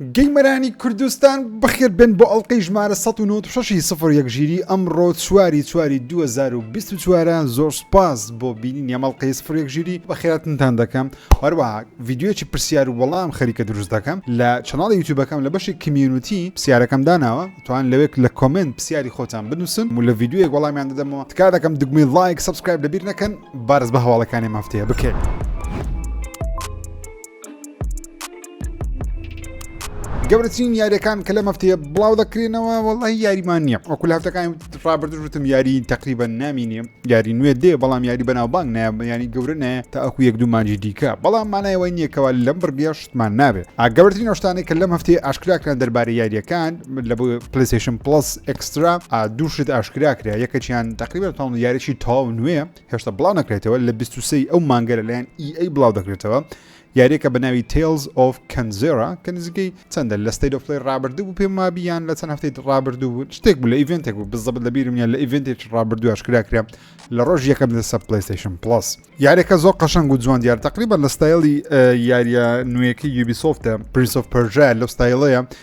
گەیمەرانی کوردستان بەخێر بێن بۆ ئەڵلقەی ژمارە 1960 ی سفر یەک ژیری ئەمڕۆ چواری چواری 2024 ە زۆر سپاس بۆ بینین یەمەڵلقەی سفر یەک ژیری بەخێراتنتان دەکەم هەروەها ڤیددیوەکی پرسیار و وەڵام خەریکە دروست دەکەم لە چناڵی یوتیوبەکەم لە بەشی کمیونیتی پرسیارەکەم داناوە توان لەوێک لە کۆمنت پرسیاری خۆتان بنووسن و لە ڤیددیوەک وەڵامیان دەدەمەوە تکا دەکەم دگمەی لایک سبسکرایب لەبیر نەکەن بارز بە هەواڵەکانی مافتەیە بکەێت. گەورەترین یاریەکان کە لە مەفتەیە بڵاو دەکرێنەوە وڵی یاریمان نییە وەکو هەفتەکان ڕابردوشتم یاری تقریبا نامینێ یاری نوێ دێ بەڵام یاری بەناو بانگ نایە ینی گەورە نایە تا ئەکو یەک دومانجی دیکە بەڵام مانایەوەی نییەکەوە لەم بڕگەشتمان نابێت ئاگەورترین نۆشتانێک کە لەم هەفتەیە ئاشکراکران دەربارەی یاریەکان لە بۆ پلیسیشن پلس ئەکسترا دووشت ئاشکراکرا یەکەچیان تقریبا تاون یاریی تاو نوێ هێشتا بڵاو نەکرێتەوە لە 23 ئەو مانگەرە لەیان ئی e ئەی بڵاو دەکرێتەوە یاریەکە بە ناوی Tales of Kanzera کە نزیکەی چەندە لە State of Play ڕابردوو بوو پێم وابی یان لە چەند هەفتەی ڕابردوو بوو شتێک بوو لە ئیڤنتێک بوو بزەبت لە بیرم یان لە ئیڤنتێکی ڕابردوو ئاشکرا کرا لە ڕۆژ یەکەم لە سەر PlayStation Plus یاریەکە زۆر قەشەنگ و جوان دیار تقریبا لە ستایلی یاریە نوێیەکە یوبیسۆفتە Prince of Persia لەو ستایلەیە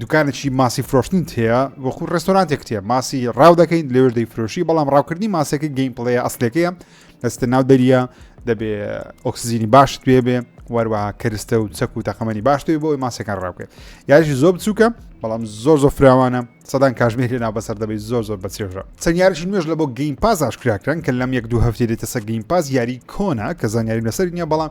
دوکانێکی ماسی فرۆشتنت هەیە وەکو ڕێستۆرانتێکت هەیە ماسی ڕاو دەکەین لێوێش دەیفرۆشی بەڵام ڕاوکردنی ماسەکە گەیم پڵەیە ئەسلەکەیە دەستە ناو دەریە دەبێ ئۆکسزیینی باشت پێ بێ وەروەها کەرستە و چەک و تەقەمەنی باشتێ بۆی ماسەکان ڕاوکرێت یاژی زۆر بچووکە بەڵام زۆر زۆر فراوانە سەدان کاژمێر لێنا بەسەر دەبێت زۆر زۆر بە چێژە چەنیارش نوێژ لە بۆ گەیم پاز ئاشکراکران کە لەم یەک دوو هەفتێ دێتە سە گەیم پاز یاری کۆنا کە زانیاریم لەسەر نیە بەڵام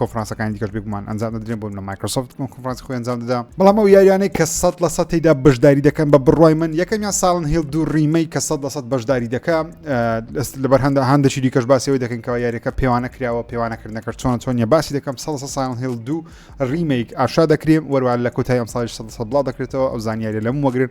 کۆفرانسەکانی دیکەش بێگومان ئەنجام دەدرێن بۆ لە مایکرۆسۆفت کۆفرانسی خۆی ئەنجام دەدا بەڵام ئەو یاریانەی کە سەد لە سە تێدا بەشداری دەکەن بە بڕای من یەکەمیان ساڵن هێڵ دوو ڕیمەی کە سەد لە سەد بەشداری دەکە لەبەر هەندە هەندێکی دیکەش باسیەوەی دەکەنکەوە یاریەکە پێوانە کراوە پێوانەکردنەکە چۆن چۆنیە باسی دەکەم سە ساڵن هێڵ دوو ڕیمەیک ئاشا دەکرێن وەروان لە کۆتای ئەم ساڵی سە بڵاو دەکرێتەوە ئەو زانیاریە لەم وەگرن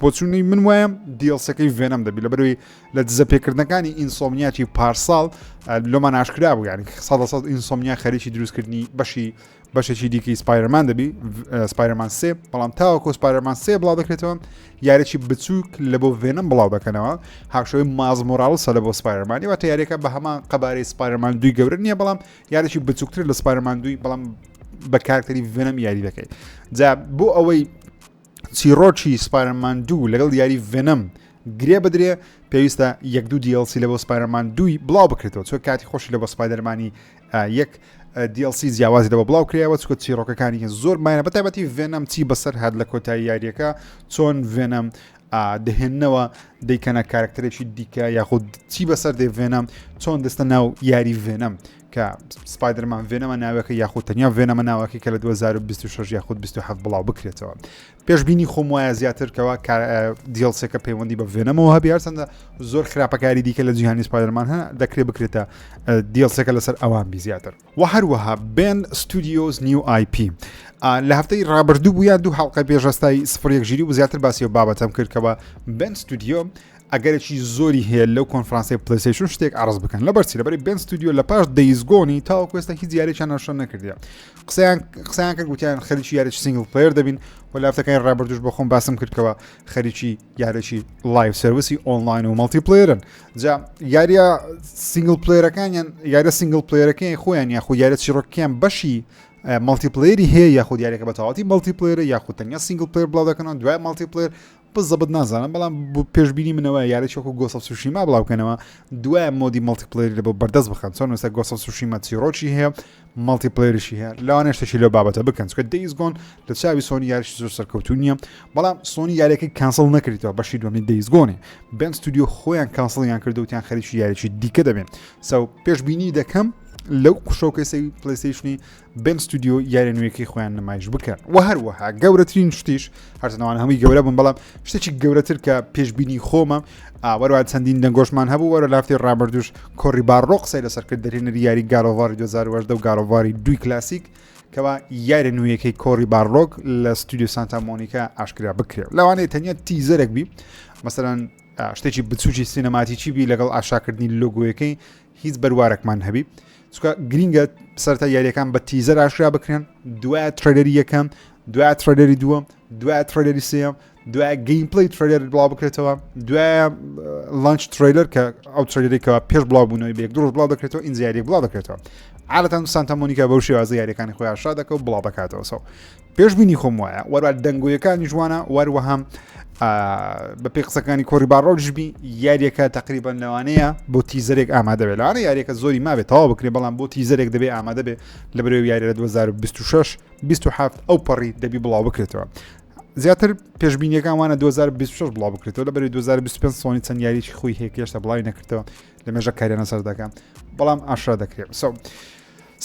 بۆچونی من وایە دیڵسەکەی ڤێنەم دەبی لەبەروی لە دزە پێکردنەکانی ئینسۆمنیاتی پارساڵ لۆمان ئاشکرا بوو یانی سا سەد ئینسۆمنیا خەریکی دروستکردنی بەشی بەشێکی دیکەی سپایرمان دەبی سپایرمان سێ بەڵام تاوەکۆ سپایرمان سێ بڵاو دەکرێتەوە یارێکی بچووک لە بۆ ڤێنم بڵاو دەکەنەوە هاوشەوەی مازمۆراڵسە لە بۆ سپایرمانی وە یارێکە بە هەمان قەبارەی سپایرمان دوی گەورە نییە بەڵام یارێکی بچووکتر لە سپایرمان دوی بەڵام بە کارکتەری ڤێنم یاری دەکەیت جا بۆ ئەوەی چیڕۆکی سپایرمان دوو لەگەڵ یاری ڤێنەم گرێ بدرێ پێویستە یەک دوو دیڵسی لە بۆ سپایرمان دووی بڵاو بکرێتەوە چۆ کاتی خۆشی لە بۆ سپایدەرمانی یەک دیڵسی جیاوازی لەوە بڵاو کرایەوە چکە چیڕۆکەکانی زۆر مایە بە تایبەتی ڤێنەم چی بەسەر هاات لە کۆتایی یاریەکە چۆن ڤێنەم دەهێننەوە دەیکەنە کارکتەرێکی دیکە یاخود چی بەسەر دێ ڤێنەم چۆن دەستە ناو یاری ڤێنەم کە سپایدەرمان ڤێنەمە ناوەکە یاخود تەنیا ڤێنەمە ناوەکەی کە لە 2026 یاخود 27 بڵاو بکرێتەوە پێشببینی خۆم وایە زیاترکەوە دیڵسێکە پەیوەندی بە ڤێنەمەوە هەبی هەرچەندە زۆر خراپەکاری دیکە لە جیهانی سپایدەرمان هە دەکرێت بکرێتە دیڵسێکە لەسەر ئەوان بی زیاتر و هەروەها بێن ستودیۆز نیو آیP لە هەفتەی ڕابردوو بووە دوو حڵقە پێشەستای سفرێک ژیری و زیاتر باسی و بابەتەم کردکەوە بن ستودیۆ ئەگەرێکی زۆری هەیە لەو کۆنفرانسەی پلەیستەیشن شتێک عرض بکەن لە بەرچی لەبەری بێن ستودیو لە پاش دەیزگۆنی تاوەکو ئێستا هیچ یاریان ناشە نەکردە قسەیان قسەیان کرد گوتیان خەریکی یاریی سنگل پلیر دەبین و لافتەکانی ڕابردوش بەخۆم باسم کردکەوە خەریکی یاریی لایف سرویسی ئۆنلاین و مەڵتی پلیرن جا یاریە سنگل پلیرەکانیان یاریە سنگل پلیرەکەی خۆیان یاخود یاریە چیڕۆکیان بەشی مەڵتی پلیری هەیە یاخود یاریەکە بە تەواتی مەڵتی پلیرە یاخود تەنیا سنگل پلیر بڵاو دەکەنەوە دوای مەڵتی پلیر بزەبت نازانم بەڵام پێشبینی منەوە یاریی وەکو گۆسە سوشیما بڵاوکەنەوە دوای مۆدی مەڵتیپلری لە بۆ بەردەست بخەن چۆن وستا گۆسە سوشیما چیرۆکی هەیە مەڵتیپلریشی هەیە لەوانە شتێکی لەو بابەتە بکەن چکە دەیزگۆن لە چاوی سۆنی یاریشی زۆر سەرکەوتو نییە بەڵام سۆنی یاریەکەی کانسڵ نەکردەوە بەشی دومی دەیزگۆنی بەم ستودیو خۆیان کانسڵیان کردوتیان خەریکی یاریی دیکە دەبێن سەو پێشببینی دەکەم لەو قشۆکەی سەوی پلیسیشنی بێن ستودیۆ یارە نوێیەکەی خۆیان نمایش بکەن و هەروەها گەورەترین شتیش هەرزنەوان هەمووی گەورە بم بەڵام شتێکی گەورەتر کە پێشببینی خۆمە ئاوەروان چەندین دەنگۆشمان هەبوو وەرە لافتی ڕابردوش کۆری باڕۆق سەی لەسەر کرد دەرێنەری یاری گارۆڤاری 2010 و گارۆڤاری دوی کلاسیک کەوا یارە نوێیەکەی کۆری باڕۆک لە ستودیو سانتا مۆنیکا ئاشکرا بکرێت لەوانەیە تەنیا تیزەرەک بی مەسەرەن شتێکی بچوکی سینەماتیکی بی لەگەڵ ئاشاکردنی لۆگویەکەی هیچ بەروارەکمان هەبی چکە گرینگە سەرتا یاریەکان بە تیزەر ئاشرا بکرێن دوای ترەدەری یەکەم دوای ترەدەری دووەم دوای ترەدەری سم دوای گەیم پلی ترەدەر بڵاو بکرێتەوە دوای لانچ ترەیلەر کە ئەو ترەدەرێکەوە پێش بڵاو بوونەوەی بێک دۆژ بڵاو دەکرێتەوە ئینجیاری بڵاو دەکرێتەوە عادەتەن سانتەمۆنیکە بەو شێوازە یاریەکانی خۆی ئاشرا دەکە و بڵاو دەکاتەوە سەو پێشبینی خۆم وایە وەرا دەنگۆیەکانی جوانە وەروەهام بە پێ قسەکانی کۆری باڕۆژبی یاریەکە تقریبان لەوانەیە بۆ تیزەرێک ئامادە بێت لەوانە یاریەکە زۆری مابێت تەوا بکرێ بەڵام بۆ تیزەرێک دەبێ ئامادە بێ لە بەرەوە یاری لە 2026 27 ئەو پەڕی دەبی بڵاو بکرێتەوە زیاتر پێشببینیەکان وانە 2026 بڵاو بکرێتەوە لە بەری 2025 سۆنی چەند یاریی خۆی هێکێشتە بڵاوی نەکردەوە لە مێژە کارێنە سەردەکە بەڵام ئاشرا دەکرێت سەو.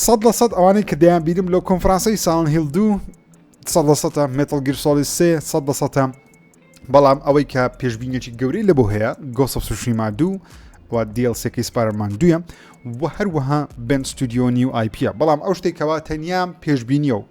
سەد لە سەد ئەوانەی کە دەیان بینم لەو کۆنفرانسەی ساڵن هیل دوو سەد لە سەدە مێتڵ گیر سۆڵی سێ سەد لە سەدە بەڵام ئەوەی کە پێشبینێکی گەورەی لە بۆ هەیە گۆسە سوشیما دوو و دیل سێکی سپارمان دوە و هەروەها بن ستودیۆ نیو آیپە بەڵام ئەو شتێکەوە تەنیا پێشبینیە و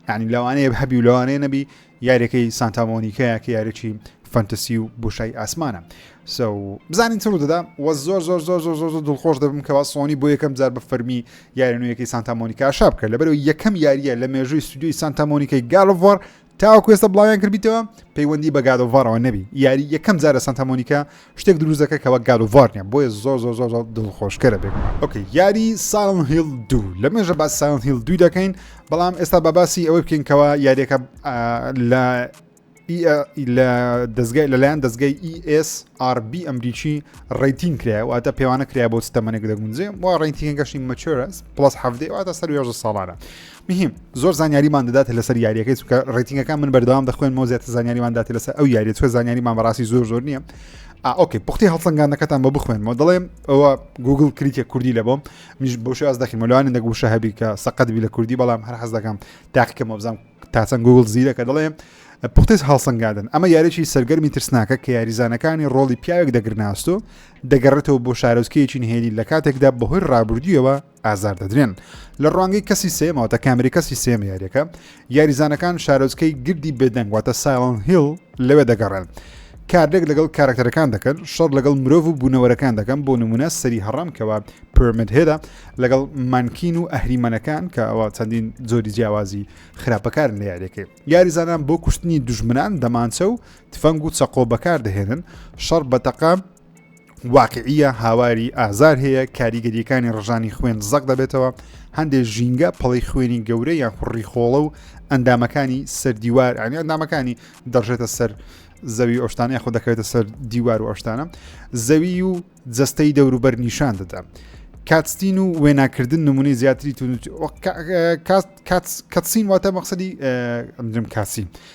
ینی لەوانەیە هەبی و لەوانەیە نەبی یاریەکەی سانتا مۆنیکەیە کە یاریی فەنتەسی و بۆشای ئاسمانە سو بزانین چڕ دەدا وە زۆر زۆر زۆر زۆر زۆر دڵخۆش دەبم کەوا سۆنی بۆ یەکەم جار بە فەرمی یارنوویەکەی سانتا مۆنیکا شاب کرد لەبەرەوە یەکەم یاریە لە مێژووی سودیوی سانتا مۆنیکای گالڤۆر تاوەکوێستە بڵاویان کردیتەوە پەیوەندی بە گادۆڤارەوە نەبی یاری یەکەم جارە سانتا مۆنیکا شتێک دروست دەکە کە وەک گاد و ڤار نیە بۆیە زۆر زۆر زۆر دڵخۆشکەرە بێگومان ئۆکەی یاری ساڵن هیل دوو لە مێژە باس ساڵن هیل دوو دەکەین بەڵام ئێستا بە باسی ئەوەی بکەین کەەوە یاریەکە لە لە دەستگای لەلایەن دەستگای ESRB ئەمریکی ڕیتین کرای واتە پێوانە کرای بۆ ستەمەێک دەگونجێ و ڕیتینگەشی مەچرس پلس هەفتێ واتە سەر ساڵانە مهیم زۆر زانیاریمان دەدات لەسەر یاریەکەی چکە ڕێتینگەکان من بەردەوام دەخوێنمەوە زیاتر زانیاریمان داات لەسەر ئەو یاریە چکە زانیاریمان بەڕاستی زۆر زۆر نییە ئۆکەی پختی هەڵسەنگانەکەتان بە بخوێنمەوە دەڵێم ئەوە گوگل کریتە کوردی لە بۆم منیش بۆ شاز دەخیم لەوانە دەگو شە هەبی کە سەقەت بی لە کوردی بەڵام هەر حەز دەکەم تاقیکە مۆبزانام تاچەند گوگل زیرەکە دەڵێم پختێز هەڵسەنگادن ئەمە یاریی سەرگەرمی ترسناکە کە یاریزانەکانی ڕۆڵی پیاوێک دەگرناستۆ دەگەڕێتەوە بۆ شارۆزکەیەکی نهێنی لە کاتێکدا بەهۆی ڕابردوویەوە ئازار دەدرێن لە ڕوانگەی کەسی سێمەوە تا کامری کەسی سێمە یاریەکە یاریزانەکان شارۆچکەی گردی بێدەنگ واتە سایڵن هیل لەوێ دەگەڕێن کارلێک لەگەڵ کارکتەرەکان دەکەن شەڕ لەگەڵ مرۆڤ و بوونەوەرەکان دەکەم بۆ نمونە سەری هەڕام کەەوە پرمد هێدا لەگەڵ مانکین و ئەهریمەنەکان کە ئەوە چەندین زۆری جیاوازی خراپەکار لە یاریەکەی یاریزانان بۆ کوشتنی دژمنان دەمانچە و تفەنگ و چەقۆ بەکار دەهێنن شەڕ بەتەقام واقعیە هاواری ئازار هەیە کاریگەریەکانی ڕژانی خوێن زەق دەبێتەوە هەندێک ژینگە پڵی خوێنی گەورە یان خوڕی خۆڵە و ئەندامەکانی سەر دیوار ئەنی ئەندامەکانی دەڕژێتە سەر زەوی ئۆشتانە خۆ دەکەوێتە سەر دیوار و ئۆشتانە زەوی و جستەی دەوروبەر نیشان دەدا کاتستین و وێناکردن نمونەی زیاتری تون کاتسین واتە مەقصدی ئەمدرم کاسین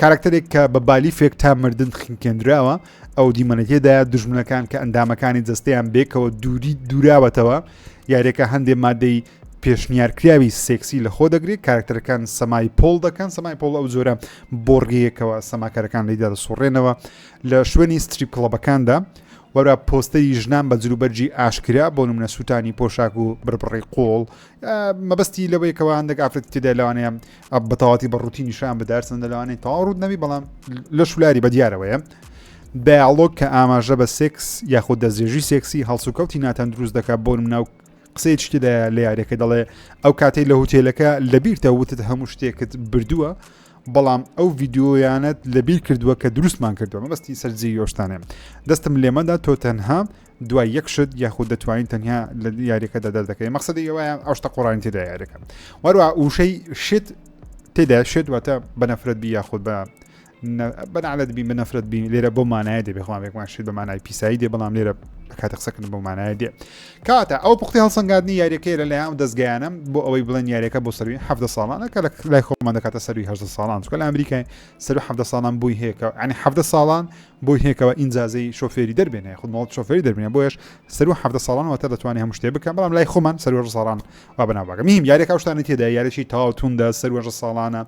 کارکتەرێک کە بە بالیفێک تا مردن خنکێنراوە ئەو دیمەنەتێدا دژمنەکان کە ئەندامەکانی جستەیان بێکەوە دووری دوراوەتەوە یاریەکە هەندێ مادەی پێشنیارکراوی سێکسی لە خۆ دەگرێت کارکتەرەکان سەمای پۆل دەکەن سەمای پۆڵ ئەو زۆرە بۆڕگەیەکەوە سەماکارەکان لیدا دەسوڕێنەوە لە شوێنی ستریپ کڵەبەکاندا وەرا پۆستەری ژنان بە جروبەرجی ئاشکرا بۆ منە سووتانی پۆشاک و بربڕی قۆڵ مەبەستی لەوەیەکەوە هەندێک ئافرەت تێدا لەوانەیە ئەپ بە تەواتی بە ڕووتی نیشان بدار سندە لەوانەی تەواو ڕوود نەبی بەڵام لە شولاری بە دیارەوەیە دایاڵۆک کە ئاماژە بە سێکس یاخود دەستێژی سێکسی هەڵسوکەوتی ناتەن دروست دەکات بۆ ناو قسەی شتدا لە یارەکە دەڵێ ئەو کاتەی لە هوتێلەکە لەبیرتە وتت هەموو شتێکت بردووە بەڵام ئەو ڤیددیویانت لەبیر کردووە کە دروستمان کردووە مەبستی سەررجی یۆشتانێ دەستم لێمەدا تۆ تەنها دوای یەک شت یاخود دەتوانین تەنیا لە یاریەکەدا دەردەکەی مەقصدی ئەوەیە ئەو شتە قڕانی تێدا یاریەکە وەروە وشەی شت تێدا شێت واتە بەنەفرەت بی یاخود بە بەنالت بی بەنەفرەت بی لێرە بۆ مانایە دێ بخوامێکمان شت بە مانای پیسایی دێ بەڵام لێرە کاتە قسەکرد بۆ مانایە دێ کاتە ئەو پختی هەڵسەنگاردنی یاریەکەی لە لایەن دەستگەیانم بۆ ئەوەی بڵێن یاریەکە بۆ سەروی ه ساڵانە کە لای خۆمان دەکاتە سەروی ه ساڵان چکە لە ئەمریکای سەر ه ساڵان بووی هەیەکە ئەنی ه ساڵان بۆی هەیە کەوا ئینجازەی شۆفێری دەربێنێ خود ماڵ شۆفێری دەربێنێ بۆیش سەروە حەفتە ساڵان واتە دەتوانێ هەموو شتێ بکە بەڵام لای خۆمان سەروەر ساڵان وا بەناو بەگە میم یارێکا شتانی تێدا یارێکی تاو توندە سەروەژە ساڵانە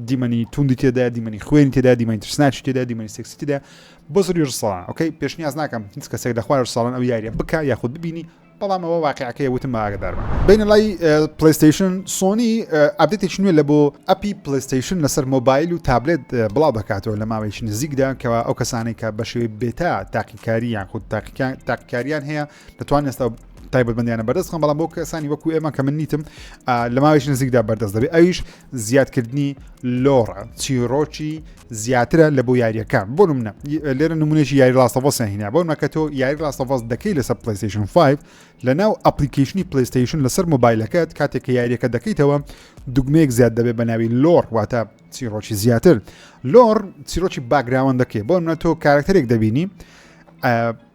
دیمەنی توندی تێدا دیمەنی خوێنی تێدا دیمەنی ترسناچ تێدا دیمەنی سێکسی تێدا بۆ سەروەژە ساڵان ئۆکەی پێشنیاز ناکەم هیچ کەسێک لە خوارج ساڵان ئەو یاریە بکە یاخود ببینی بەڵام ئەوە واقعەکەی وتم ئاگدارمە بینە لای پلیستیشن سۆنی ئابدێتێک نوێ لە بۆ ئەپی پلیستیشن لەسەر مۆبایل و تابلێت بڵاو دەکاتەوە لە ماوەیش نزیکدا کەەوە ئەو کەسانێک کە بەشێوی بێتا تاقیکاری یان خود تاقیکاریان هەیە دەتوان ئێستا تایبەتبندیانە بەردەستخم بەڵام بۆ کەسانی وەکو ئێمە کە من نیتم لە ماوەیش نزیکدا بەردەست دەبێت ئەویش زیادکردنی لۆڕ چیرۆکی زیاترە لە بۆ یاریەکان بۆ منە لێرە نمونێکی یاری لاستەڤۆسیان هینا بۆ مەکە تۆ یاری لاستەڤۆس دەکەی لەسەر پلیستیشن 5 لە ناو ئەپلیکیشنی پلیستیشن لەسەر مۆبایلەکەت کاتێک کە یاریەکە دەکەیتەوە دوگمەیەک زیاد دەبێت بە ناوی لۆر واتە چیرۆکی زیاتر لۆر چیرۆکی باگراوان دەکەی بۆ منە تۆ کارکتەرێک دەبینی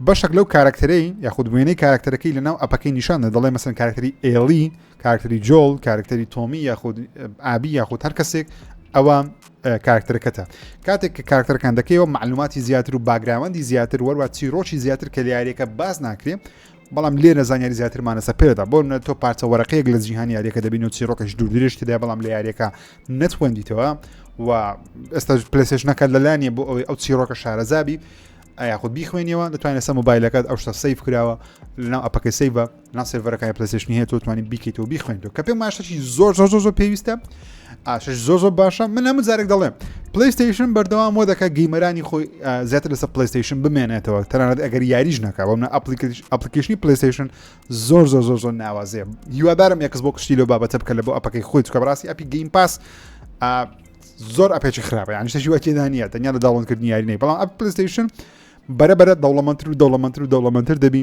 بەشێک لەو کارکتەرەی یاخود وێنەی کارکتەرەکەی لە ناو ئەپەکەی نیشانە دەڵێ مەسن کارکتەری ئێڵی کارکتەری جۆڵ کارکتەری تۆمی یاخود ئابی یاخود هەر کەسێک ئەوە کارکتەرەکەتە کاتێک کە کارکتەرەکان دەکەیەوە معلوماتی زیاتر و باگراوەندی زیاتر وەروە چیرۆکی زیاتر کە لیارەکە باز ناکرێ بەڵام لێرە زانیاری زیاترمانەسە پێدا بۆ نە تۆ پارچە وەرەقەیەک لە جیهانی یاریەکە دەبین و چیرۆکەش دوور درێژتدا بەڵام لە یاریەکە نەتوەندیتەوە و ئێستا پلسش نەکات لەلانیە بۆ ئەوەی ئەو چیرۆکە شارەزابی یاخود بیخوێنیەوە دەتوانێت سە مۆبایلەکەت ئەو شتە سیف کراوە لەناو ئەپەکە سیڤە نا سێرڤەرەکانی پلەسشنی هەیە تۆ توانی بیکەیتەوە بیخوێنیتەوە کە پێم ماشەشی زۆر زۆر زۆر زۆر پێویستە ئاشش زۆر زۆر باشە من هەموو جارێک دەڵێم پلیستیشن بەردەوام وە دەکە گەیمەرانی خۆی زیاتر لەسەر پلیستیشن بمێنێتەوە تەنانەت ئەگەر یاریش ناکە بەم ئەپلیکیشنی پلیستیشن زۆر زۆر زۆر زۆر ناوازێ هیوادارم یەکس بۆ کشتی لە بابەتە بکە لە بۆ ئەپەکەی خۆی چکە بڕاستی ئەپی گەیم پاس زۆر ئەپێکی خراپە یان شتەشی وەکیدانە تەنیا لە داڵنکردنی یاری نەی بەڵام ئەپ پلیستیشن بەرە بەرە دەوڵەمەتر و دەوڵەمەتر و دەوڵەمەتر دەبی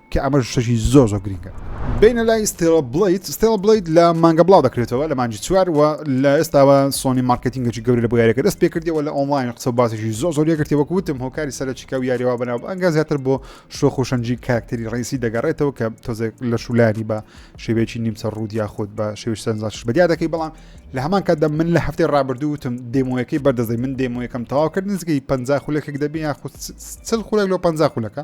کە ئەمەش شتێکی زۆر زۆر گرینگە. بینە لای ستێڵە بڵیت ستێڵە بڵیت لە مانگە بڵاو دەکرێتەوە لە مانجی چوار و لە ئێستاوە سۆنی مارکتینگەی گەورە لە بۆ یاریەکە دەست پێکردەوە لە ئۆنلاین قسە باسیشی زۆ زۆر یەکرتی وەک وتم هۆکاری سەرچیکە و یاریەوە بەناو ئەنگا زیاتر بۆ شۆخ و شەنجی کاکتری ڕیسی دەگەڕێتەوە کە تۆزێک لە شولانی بە شێوەیەکی نیمچە ڕوود یاخود بە شێوش سەنجاش بەدیا دەکەی بەڵام لە هەمان کاتدا من لە هەفتەی ڕابردووتم دێمۆیەکەی بەردەزەی من دێمۆیەکەم تەواو کرد نزگەی پ خولەکێک دەبی یاخود چل خولەک لەو پ خولەکە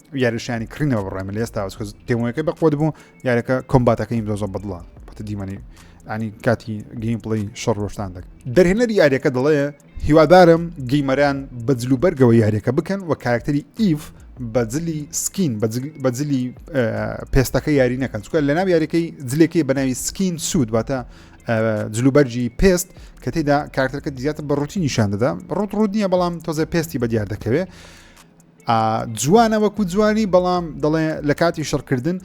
یاریشانی کڕینەوە بڕێ من لێستا ئەوکە دێمەکە بە قوت بوو یارەکە کۆمباتەکەی دۆزە بەدڵە پتە دیمەنی ئەنی کاتی گەیم پڵی شەڕ ڕۆشتان دەک دەرهێنەری یاریەکە دەڵێ هیوادارم گەیمەران بە جلو بەرگەوە یاریەکە بکەن و کارکتەری ئیف بەجلی سکین بەجلی پێستەکە یاری نەکەن چکە لە ناو یاریەکەی جلێکی بەناوی سکین سوود واتە جلوبەرجی پێست کە تێدا کارتەکە زیاتر بە ڕوتی نیشان دەدا ڕوت ڕوت نییە بەڵام تۆزە پێستی بە دیار دەکەوێت جوانە وەکو جوانی بەڵام دەڵێ لە کاتی شڕکردن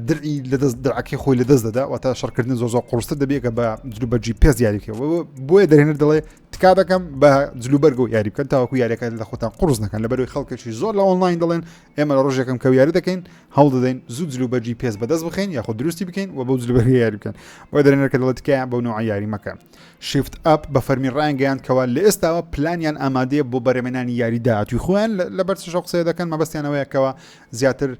درعی لەدەست درعەکەی خۆی لەدەست دەدا واتە شڕکردن زۆ زۆ قڕستە دەبێتە بە جلوبەرجی پێز یاریکەوە بۆیە دەێنەر دەڵێ تکا دەکەم بە جلوبەرگە و یاری بکەن تاوەکو یاریەکە لە خۆتان قڕز نەکەن لە بەروی خەڵکەشی زۆر لە ئۆنلاین دەڵێن ئێمە لە ڕژێکم کە یاری دەکەین هەوڵ دەدەین زوو جلوبەرجی پێز بەدەست بخین یاخۆ دروستی بکەین و بە جلوبەرگی یاری بکەن بۆ دەێنەر کە دەڵێت تکایان بەو نوع یاری مەکەن شیفت ئەپ بە فەرمی ڕایانگەیاند کەوا لە ئێستاوە پلانیان ئامادەیە بۆ بەرەمێنانی یاری داهاتوی خۆیان لەبەر چشە قسەیە دەکەن مەبەستیانەوەیەکەوە زیاتر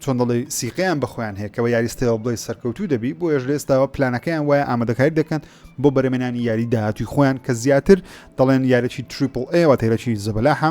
چۆن دەڵی سیقیان بەخۆیان هەیەکەوە یاریستەوە بڵێ سەرکەوتو دەبی بۆ ێش لێستاوە پلانەکەیان وایە ئامادەکاری دەکەن بۆ بەرەمێنانی یاری داهاتوی خۆیان کە زیاتر دەڵێن یارەی تریپل ئەوە تێرەی زەبەلاحە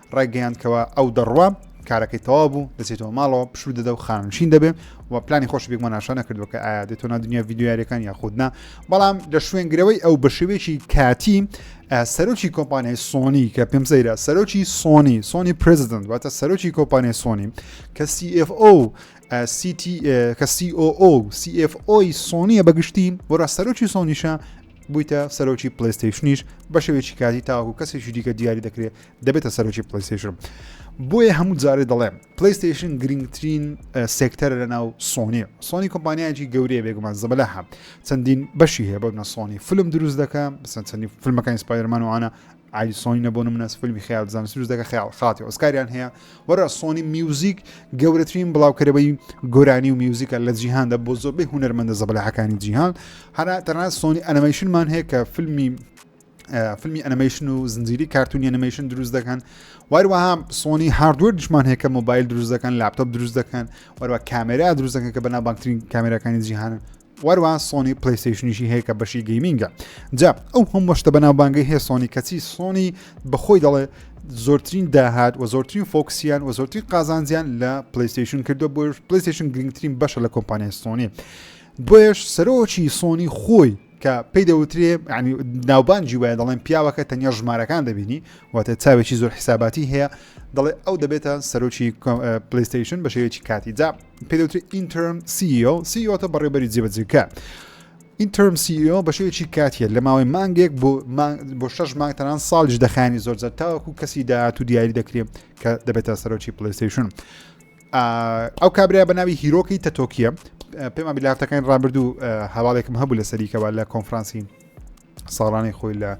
ڕایگەیاند کەوا ئەو دەڕوا کارەکەی تەواو بوو دەچێتەوە ماڵەوە پشوو دەدە و خانشین دەبێ و پلانی خۆش بێکمە ناشە نەکردو کە ئایا دێتۆ نادنیا یددیوارەکان یاخودنا بەڵام لە شوێنگرەوەی ئەو بە شێوەیەکی کاتی سەرۆکی کۆمپانیای سۆنی کە پێم سەیرە سەرۆکی سۆنی سۆنی پرزیدنت واتە سەرۆکی کۆمپانیای سۆنی کە CFO کە COO CFO سۆنیە بەگشتی وەرا سەرۆکی سۆنیشە بوویتە سەرۆکی پلیستیشنیش بە شێوێکی کاتی تاوەکو کەسێکی دیکە دیاری دەکرێت دەبێتە سەرۆکی پلیستیشن بۆیە هەموو جارێ دەڵێم پلیستیشن گرنگترین سێکتەر لە ناو سۆنی سۆنی کۆمپانیایکی گەورەیە بێگومان زەبلە هەم چەندین بەشی هەیە بەنە سۆنی فلم دروست دەکە بسەن چەندی فیلمەکان سپایرمان وانە ئای سۆنی نەبوون منەس فیلمی خیال زانست دروست دەکە خیال خاتی ئۆسکاریان هەیە وەرە سۆنی میوزیک گەورەترین بڵاوکەرەوەی گۆرانی و میوزیکە لە جیهاندا بۆ زۆربەی هوەرمەندە زەبلەحەکانی جیهان هەرا تەنها سۆنی ئەنەمەشنمان هەیە کە فیلمی فیلمی ئەنیمەیشن و زنجیری کارتونی ئەنیمەیشن دروست دەکەن وەروەها سۆنی هاردوەر دشمان هەیە کە مۆبایل دروست دەکەن لاپتۆپ دروست دەکەن وەروە کامێرا دروست دەکەن کە بەنا بانکترین کامێراکانی جیهانن وەروە سۆنی پلیسیشنیشی هەیە کە بەشی گەیمینگە جا ئەو هەم وەشتە بەناوبانگەی هەیە سۆنی کەچی سۆنی بەخۆی دەڵێ زۆرترین داهات و زۆرترین فۆکسیان و زۆرترین قازانجیان لە پلیسیشن کردو بۆ پلیسیشن گرنگترین بەشە لە کۆمپانیای سۆنی دوێش سەرۆکی سۆنی خۆی کە پێی دەوترێ ینی ناوبانجی وایە دەڵێن پیاوەکە تەنیا ژمارەکان دەبینی واتە چاوێکی زۆر حساباتی هەیە دەڵێ ئەو دەبێتە سەرۆکی پلیستیشن بە شێوەیەکی کاتی جا پێ دەوتری ئینترم سیO سیۆتە بەڕێبەری جێبەجێکە. ئینترم سیO بە شێوەیەکی کاتیە لە ماوەی مانگێک بۆ بۆ شش مانگ تەنان ساڵیش دەخانی زۆر زەر تاوەکو کەسی داهات و دیاری دەکرێت کە دەبێتە سەرۆکی پلیستیشن. ئەو کابرای بە ناوی هیرۆکی تەتۆکیە پێمان بیلاتەکانی ڕابردوو هەواڵێکم هەبوو لە سەریکەوە لە کۆنفرانسی ساڵانی خۆی لە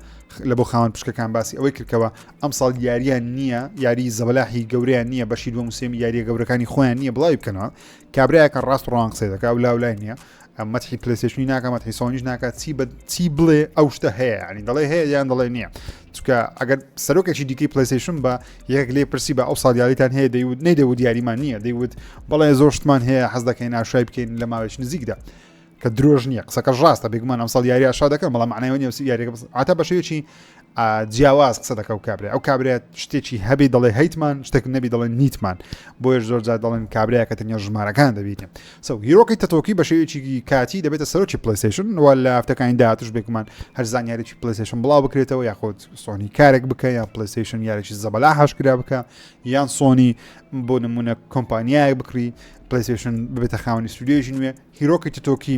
لە بۆ خاوەن پشکەکان باسی ئەوەی کردکەوە ئەم ساڵ یاریان نییە یاری زەبلاحی گەوریان نییە بەشی دووە موسێمی یاریە گەورەکانی خۆیان نییە بڵاوی بکەنەوە کابراایەکە ڕاست ڕوان قسەی دەکە و لاولای نییە ئەم مەتحی پلەیستێشنی ناکە مەتحی سۆنیش ناکات چی بە چی بڵێ ئەو شتە هەیە ینی دەڵێ هەیە یان دەڵێ نییە چکە ئەگەر سەرۆکێکی دیکەی پلەیستێشن بە یەک لێ پرسی بە ئەو ساڵیاریتان هەیە دەیوت نەیدەوت دیاریمان نییە دەیوت بەڵێ زۆر شتمان هەیە حەز دەکەین ئاشای بکەین لە ماوەش نزیکدا کە درۆژ نییە قسەکە ڕاستە بێگومان ئەم ساڵ یاری ئاشا دەکەم بەڵام معنای نیە یاریگە عتا بەشێکی جیاواز قسە دەکە و کابرای ئەو کابرای شتێکی هەبی دەڵێ هەیتمان شتێک نەبی دەڵێن نیتمان بۆیش زۆر جار دەڵێن کابراە کە تەنیا ژمارەکان دەبیتن سو هیرۆکی تەتۆکی بە شێوێکی کاتی دەبێتە سەرۆکی پلیسیشن وە لە هەفتەکانی داهاتش بێکمان هەر زانیارێکی پلیسیشن بڵاو بکرێتەوە یاخود سۆنی کارێک بکە یان پلیسیشن یارێکی زەبەلا هاشکرا بکە یان سۆنی بۆ نمونە کۆمپانیایەک بکری پلیسیشن ببێتە خاونی سوودێژی نوێ هیرۆکی تتۆکی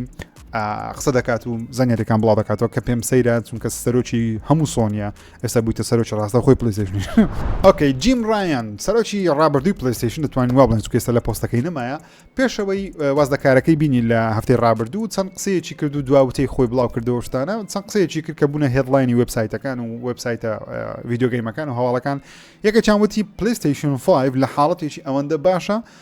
قسە دەکات و زانانیەکان بڵاو دەکاتەوە کە پێم سەیرە چونکە سەرۆکی هەموو سۆنیە ئێستا بوویتە سەرۆکی ڕاستە خۆی پلیزیشنی ئۆکەی جیم ڕایەن سەرۆکی ڕابردووی پلیستیشن دەتوانین وا بڵێن کێستا لە پۆستەکەی نمایە پێشەوەی وازدەکارەکەی بینی لە هەفتەی ڕابردوو چەند قسەیەکی کرد و دواوتەی خۆی بڵاو کردەوە شتانە چەند قسەیەکی کرد کە بوونە هێدلاینی وبسایتەکان و وبسایتە ویددیوگەیمەکان و هەواڵەکان یەکە چاوەتی پلیستیشن 5 لە حاڵەتێکی ئەوەندە باشە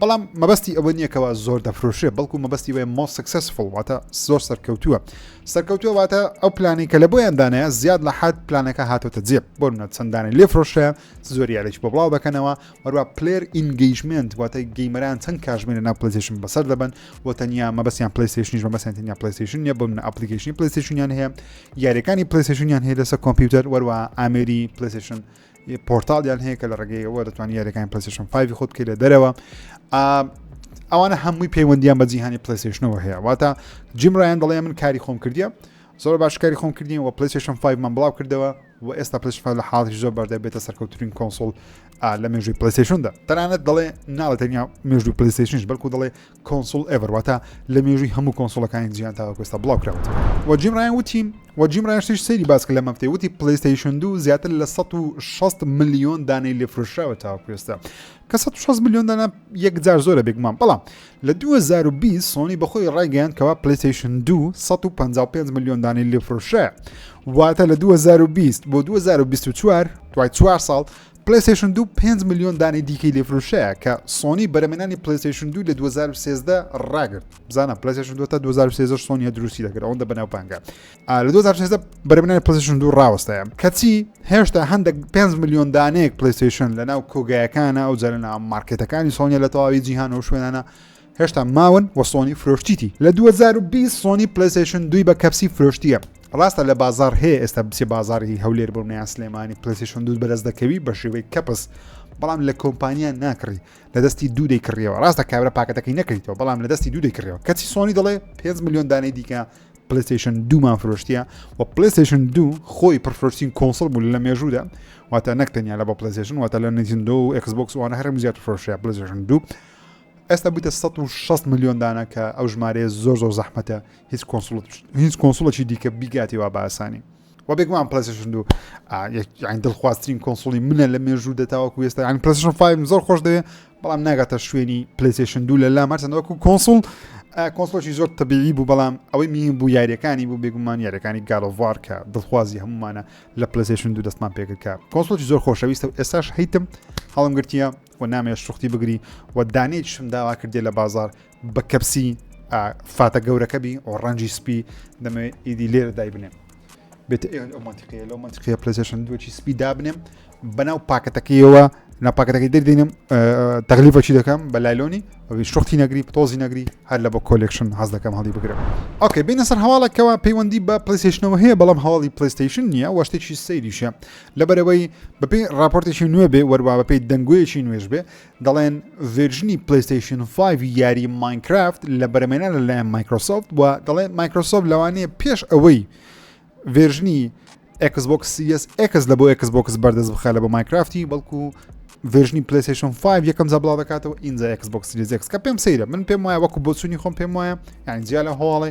بەڵام مەبەستی ئەوە نییە کەوا زۆر دەفرۆشێ بەڵکو مەبەستی وێ مۆ سکسسفڵ واتە زۆر سەرکەوتووە سەرکەوتووە واتە ئەو پلانی کە لە بۆیان دانایە زیاد لە حد پلانەکە هاتۆتە جێ بۆ منە چەندانە لێ فرۆشە زۆری یاریش بۆ بڵاو دەکەنەوە وەروە پلێر ئینگەیشمنت واتە گەیمەران چەند کاژمێنە ناو پلیسیشن بەسەر دەبن و تەنیا مەبەستیان پلیسیشنیش مەبەستیان تەنیا پلیسیشن نیە بۆ منە ئەپلیکیشنی پلیسیشنیان هەیە یاریەکانی پلیسیشنیان هەیە لەسەر کۆمپیوتەر وەروە ئامێری پلیسیشن پۆرتاڵیان هەیە کە لە ڕێگەی ئەوە دەتوانانی یاریەکان پلسشن 5 خۆت بکەیت لە دەرەوە ئەوانە هەمووی پەیوەندیان بە جیهانی پلیسشنەوە هەیە واتە جیمڕایان دەڵێ من کاری خۆم کردیە زۆر باشکاری خۆم کردین و پلیسشن 5 من بڵاو کردەوە و ئێستا پلیشفا لە حاڵی زۆر بەردە بێتە سەرکەوتترین کۆنسۆل لە مێژوی پلیسشندا تەنانەت دەڵێ ناڵە تەنیا مێژوی پلیسشنش بەڵکو دەڵێ کۆنسوڵ ئێڤەر واتە لە مێژووی هەموو کۆنسوڵەکانی جیان تاوەکو ئێستا بڵاو کراوەتەوە و جیم ڕایان وتی و جیم ڕایشتیش سەیری باسکە لە مەفتەی وتی پلیستەیشن دوو زیاتر لە 1600 میلیۆن دانەی لێ فرۆشراوە تاوەکو ئێستا کە 1600 میلیۆن دانە یەکجار زۆرە بێگومان بەڵام لە 2020 سۆنی بەخۆی ڕایگەیان کەوا پلیستەیشن دوو 155 میلیۆن دانەی لێ فرۆشرا واتە لە 2020 بۆ 2024 دوای چوار ساڵ پلەیستەیشن دوو پێنج ملیۆن دانەی دیکەی لێفروشەیە کە سۆنی بەرەمێنانی پلەیستەیشن دوو لە 2013 ڕاگرت بزانە پلەیستەیشن دوو تا 2013 سۆنیە دروستی دەکرد ئەوەندە بەناو پانگە آه، لە 2013 بەرەمێنانی پلەیستەیشن دوو ڕاوەستایە کەچی هێشتا هەندێک 5 ملیۆن دانەیەک پلەیستەیشن لەناو کۆگایەکانە ئەو جارە ناو مارکێتەکانی سۆنیە لە تەواوی جیهان و شوێنانە هێشتا ماون و سۆنی فرۆشتیتی لە 2020 سۆنی پلیسشن دوی بە کەپسی فرۆشتیە ڕاستە لە بازار هەیە ئێستا بچێ بازاری هەولێر بۆ منیان سلێمانی پلیسشن دوود بەرز دەکەوی بە شێوەی کەپس بەڵام لە کۆمپانیا ناکڕی لە دەستی دوو دەیکڕیەوە ڕاستە کابرا پاکەتەکەی نەکەیتەوە بەڵام لە دەستی دوو دەیکڕەوە کەچی سۆنی دەڵێ 5 میلیۆن دانەی دیکە پلیسشن دوومان فرۆشتیە و پلیسشن دوو خۆی پرفرۆشتین کۆنسڵ بوو لە مێژوودا واتە نەکتەنیا لە بە پلیسشن واتە لە نجندۆ و ئەکسبکس وانە هەرم زیاتر فرۆشە پلیسشن دوو ئێستا بوویتە سەد و شەست ملیۆن دانە کە ئەو ژمارەیە زۆر زۆر زەحمەتە هیچ کۆنسوڵت هیچ کۆنسوڵێکی دیکە بیگاتێ وا باسانی و بێگومان پلسشن دوو یان دڵخوازترین کۆنسوڵی منە لە مێژوو دەتاوەکو وێستا یان پلسشن فایم زۆر خۆش دەوێ بەڵام ناگاتە شوێنی پلیسشن دوو لە لام هەرچەند وەکو کۆنسوڵ کۆنسڵۆکی زۆر تەبیعی بوو بەڵام ئەوەی مین بوو یاریەکانی بوو بێگومان یاریەکانی گالۆڤار کە دڵخوازی هەمومانە لە پلسشن دوو دەستمان پێکردکە کۆنسڵۆکی زۆر خۆشەویستە و ئێستاش هیتم هەڵم گرتیە و نامەوێ شوختی بگری و دانەیەکیشم داوا کردیە لە بازار بە کەپسی فاتە گەورەکە بی و ڕەنجی سپی دەمەوێت ئیدی لێرە دای بنێم بێت ئەو منتیقەیە لەو منتیقەیە پلەسێشن دوچی سپی دابنێم بەناو پاکەتەکەیەوە ناپاکەتەکەی دەردێنم تەغلیفەچی دەکەم بە لایلۆنی ئەوی شوختی نەگری پتۆزی نەگری هەر لە بۆ کۆلێکشن حەز دەکەم هەڵی بگرم ئۆکەی بینە سەر هەواڵەکەەوە پەیوەندی بە پلیسیشنەوە هەیە بەڵام هەواڵی پلیستیشن نییە وەشتێکی سەیریشە لەبەرئەوەی بەپێی راپۆرتێکی نوێ بێ وەروا بەپێی دەنگۆیەکی نوێش بێ دەڵێن ڤێرژنی پلیستیشن 5 یاری ماینکرافت لە بەرەمێنە لەلایەن مایکرۆسۆفت و دەڵێن مایکرۆسۆفت لەوانەیە پێش ئەوەی ڤێرژنی ئەکسبکس سیس ئەکس لە بۆ ئەکسبکس بەردەست بخە لە بۆ مایکرافتی بەڵکو ڤێژنی پلیسشن 5 یەکەم جا بڵاو دەکاتەوە ئینجا ئەکسبکس سیریزێکس کە پێم سەیرە من پێم وایە وەکو بۆچوونی خۆم پێم وایە یان جیا لە هۆڵێ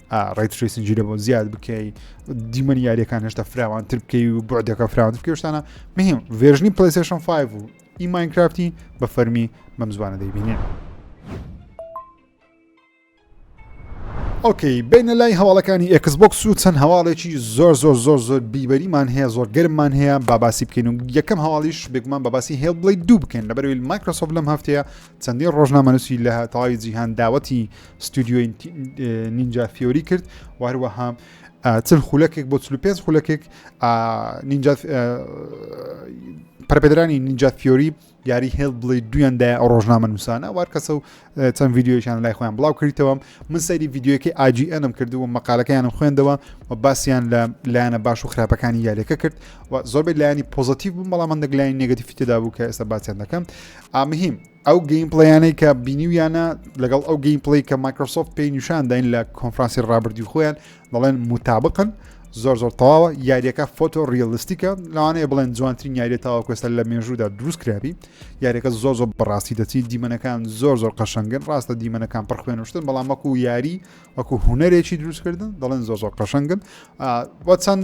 ڕیتریسی جیرە بۆ زیاد بکەی دیمەن یاریەکان هێشتا فراوان تر بکەی و بۆردەکە فراوان بکەشتانە مهم ڤێژنی پلیسشن 5 و ئی ماینکرافتی بە فەرمی بەم زوانە دەیبینێ. ئۆکەی بینە لای هەواڵەکانی ئەکسبک و چەند هەواڵێکی زۆر زۆر زۆر زۆر بیبەریمان هەیە زۆر گەرممان هەیە باباسی بکەین و یەکەم هەواڵیش بێگومان باباسی هێڵ بڵی دوو بکەین لە بەرویل مایکرۆسۆف لەم هەفتەیە چەندین ڕۆژنامەنووسی لە تەواوی جیهان داوەتی ستودیۆی نینجا فیۆری کرد و هەروەها چل خولەکێک بۆ 45 خولەکێک پرپێدرانی نینجا فیۆری یاری هێڵ بڵی دویاندا ڕۆژنامە نووسانە وار کەسە و چەند یددیویشان لای خۆیان بڵاو کردەوە من سەری یددیوەکەی ئاجی ئەنم کرد و مەقالەکەیانم خوێندەوە و باسییان لە لایەنە باش و خراپەکانی یاریەکە کرد و زۆربەی لایانی پۆزتیو بوو بەڵام من دەگلایانی نگەتیفی تێدا بوو کە ئێستا باسییان دەکەم ئامهیم ئەو گەیم پڵیانەی کە بینیویانە لەگەڵ ئەو گەیم پلی کە مایکرۆسۆفت پێی نیشان داین لە کۆنفرانسی ڕابردی خۆیان دەڵێن متابقن زۆر زۆر تەواوە یاریەکە فۆتۆ ریالیستیکە لەوانەیە بڵێن جوانترین یاری تاواکوێستە لە مێژوودا دروست کرابی یاریەکە زۆر زۆر بەڕاستی دەچی دیمەنەکان زۆر زۆر قەشنگن ڕاستە دیمەنەکان پڕخوێنشتن بەڵام وەکو یاری وەکو هوەرێکی دروستکردن دەڵێن زۆ زۆر قەشنگن بۆ چەند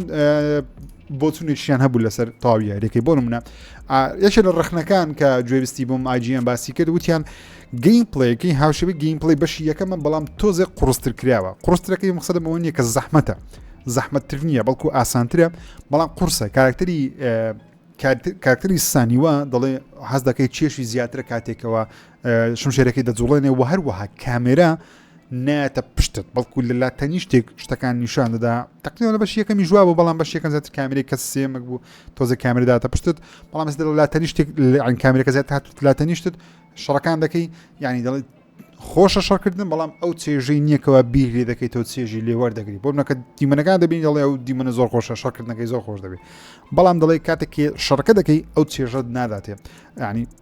بۆچونێکیان هەبوو لەسەر تاوی یاریەکەی بۆ منە یەکێ لە ڕخنەکان کە گوێویستی بووم ئاجیان باسی کرد وتیان گەیم پلەیەکەی هاوشەوی گەیم پلی بەشی یەکەمە بەڵام تۆزێک قڕستر کراوە قڕسترەکەی مخسەدە بەوە نیە کە زەحمەتە زەحمەتتر نییە بەڵکو ئاسانترە بەڵام قورسە کارکتری کاکتری سانیوە دەڵێ حەز دەکەی چێشی زیاترە کاتێکەوە شمشێرەکەی دەجوڵێنێ و هەروەها کامێرا نایەتە پشتت بەڵکو لە لا تەنیشتێک شتەکان نیشان دەدا تەقیەوە لە بەش یەکەمی ژوا بۆ بەڵام بەش یەکەم زیاتر کامیری کە سێمەک بوو تۆزە کامیرداتە پشتت بەڵام دە لا تەنیشتێک لەعین کامیرەکە زیات هات لا تەنیشتت شەڕەکان دەکەی یعنی دەڵێت خۆشە شەڕکردن بەڵام ئەو چێژەی نییەکەوە بیری دەکەیت تۆ چێژی لێوەەر دەگری بۆ منەکە دیمەنەکان دەبین دەڵێ ئەو دیمەە زۆر خۆشە شەڕکردنەکەی زۆر خۆش دەبێت بەڵام دەڵێ کاتێکی شەڕکە دەکەی ئەو چێژت ناداتێ ینی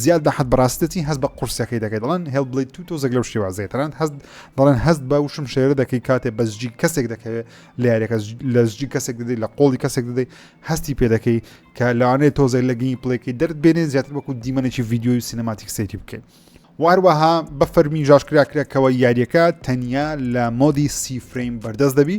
زیاد بە حەد بەڕاستی دەچی هەست بە قورسیەکەی دەکەی دەڵێن هێڵ بڵی تو تۆزێک لەو شێوازەیە تەنانەت هەست دەڵێن هەست بە وشم شێرە دەکەی کاتێ بە زجی کەسێک دەکەوێت لە یاریەکە لە زجی کەسێک دەدەی لە قۆڵی کەسێک دەدەی هەستی پێ دەکەی کە لەوانەیە تۆزێک لە گەی پڵێکی دەرد بێنێ زیاتر وەکو دیمەنێکی ویددیوی سینەماتیک سێتی بکەیت واروەها بە فەرمی ژاشکراکرێکەوە یاریەکە تەنیا لە مۆدی سی فرەیم بەردەست دەبی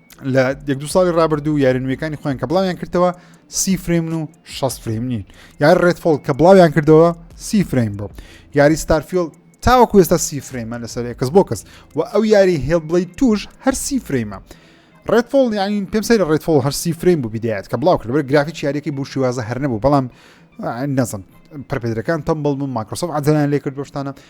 لە یەک دو ساڵی رابرردوو یارە نوێەکانی خۆیان کە بڵاویان کردەوە سی فرێمن و 6 فرێم نین یار ڕێتفۆڵ کە بڵاویان کردەوە سی فرێم بۆ یاری ستارفیل تاوەکو ئێستا سی فرێمە لەسەر کەس بۆ کەس و ئەو یاری هێڵ بڵی توش هەر سی فرێمە ڕێتفۆڵ یانی پێم سەر ڕێتفۆڵ هەر سی فرێم بوو بدایەت کە بڵاو کرد گرافی یاریەکەی بوو شێوازە هەر نەبوو بەڵام نەزم پرپێدرەکان تەمبڵ بوو ماکرۆسۆف عجلان لێ کرد بەشتانە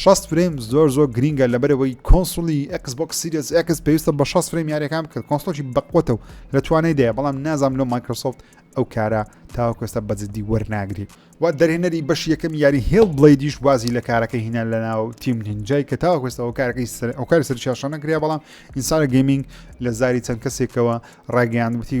شەست فرەیم زۆر زۆر گرینگە لەبەرەوەی کۆنسولی ئەکس بۆک سیریس ئەکس پێویستە بە شەست فرەیم یاریەکان بکرد کۆنسلۆکی بەقوتە و لە توانای دەیە بەڵام نازام لۆ مایکرۆسۆفت ئەو کارە تاوەکوێستە بەجددی وەرناگری و دەرهێنەری بەش یەکەم یاری هێڵ بڵیدیش وازی لە کارەکە هینا لەناو تیم نینجای کە تاوەکوێستەوە کارەکەی ئەو کاری سەرچاشە نەکریا بەڵام ئینسانە گەمینگ لە زاری چەند کەسێکەوە ڕاگەیاندوتی